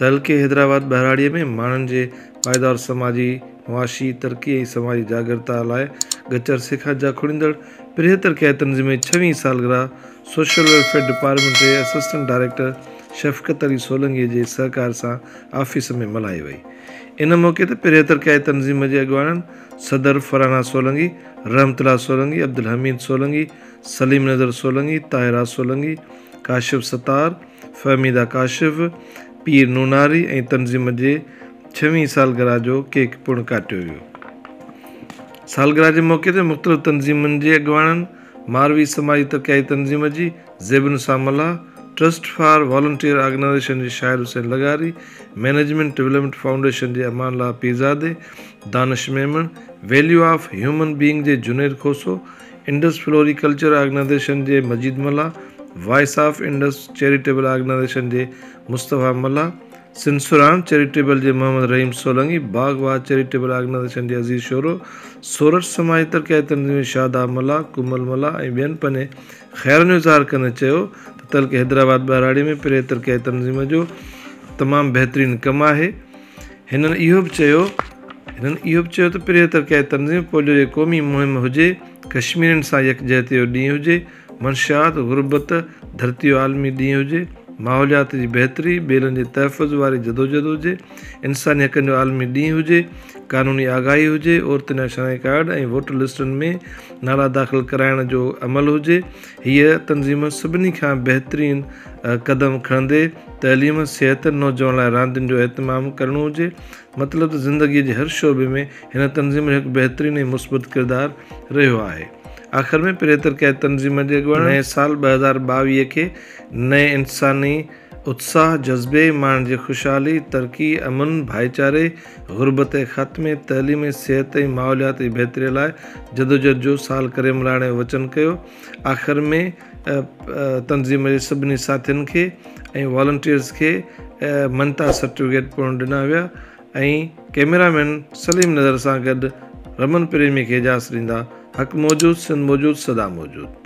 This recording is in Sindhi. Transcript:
تعلقي حيدرآباد ٻهراڙيء ۾ ماڻهن جي پائيدار سماجي معاشي ترقي ۽ سماجي جاڳرتا لاء ڳچ عرصي کان جاکوڙيندڙ پريهه ترقياتي تنظيم جي ڇوين سالگرهه سوشل ويلفيئر ڊپارٽمينٽ جي اسسٽنٽ ڊائريڪٽر شفقت علي سولنگي جي سهڪار سان آفيس ۾ ملهائي وئي ان موقعي تي پريهه ترقياتي تنظيم جي اڳواڻن صدر فرحانه سولنگي رحمت الله سولنگي عبدالحميد سولنگي سليم نظر سولنگي طاهره سولنگي ڪاشف ستار فهميده ڪاشف، پير نوناري ۽ تنظيم جي ڇوين سالگرهه جو ڪيڪ پڻ ڪاٽيو ويو. سالگرهه جي موقعي تي مختلف تنظيمن جي اڳواڻن، ماروي سماجي ترقياتي تنظيم جي Zebunnisa Mallah, trust for volunteer organisation جي شاهد حسين لغاري، مئنيجمينٽ ڊولپمينٽ فائونڊيشن جي Amanullah Pirzado, Danish Memon, value of human being جي Junaid Khoso, Indus floriculture organisation جي Majeed Mallah, voice of Indus charitable organisation جي مصطفيٰ ملاح، سنسران چيريٽيبل جي محمد رحيم سولنگي، باغ واھ چيريٽيبل آرگنائيزيشن جي عزيز شورو، سورٺ سماجي ترقياتي تنظيم جي شاداب ملاح، ڪمل ملاح ۽ ٻين پنهنجي خيالن جو اظهار ڪندي چيو ته تعلقي حيدرآباد ٻهراڙي ۾ پريهه ترقياتي تنظيم جو تمام بهترين ڪم آهي، هنن اهو به چيو هنن اهو به چيو ته پرهيز تر ڪيائي تنظيم پوليو جي قومي مهم هجي، ڪشميرين سان يڪجهتي جو ڏينهن هجي، منشيات، غربت، ڌرتي جو عالمي ڏينهن هجي، ماحوليات جي بهتري، ٻيلن جي تحفظ واري جدوجهد هجي، انساني حقن جو عالمي ڏينهن هجي، قانوني آگاهي هجي، عورتن جا شناختي ڪارڊ ۽ ووٽر لسٽن ۾ نالا داخل ڪرائڻ جو عمل هجي، هيء تنظيم سڀني کان بهترين قدم کڻندي تعليم، صحت، نوجوان لاء راندين جو اهتمام ڪرڻو هجي. مطلب ته زندگيء جي هر شعبي ۾ هن تنظيم جو هڪ بهترين ۽ مثبت ڪردار رهيو آهي. آخر ۾ پريتر ڪيا تنظيم جي اڳواڻن نئين سال ٻه هزار ٻاويهه کي نئين انساني اتساهه، جذبي، ماڻهن جي خوشحالي، ترقي، امن، ڀائيچاري، غربت جي خاتمي، تعليم، صحت ۽ ماحوليات جي بهتري لاء جدوجهد جو سال ڪريملاڻي وچن ڪيو. آخر ۾ تنظيم جي سڀني ساٿين کي ۽ والنٽيئرز کي مڃتا سرٽيفڪيٽ پڻ ڏنا ويا ۽ ڪئميرا مين سليم نظر سان گڏ رمن پريمي کي اجازت ڏيندا حق موجود سنڌ موجود سدا موجود.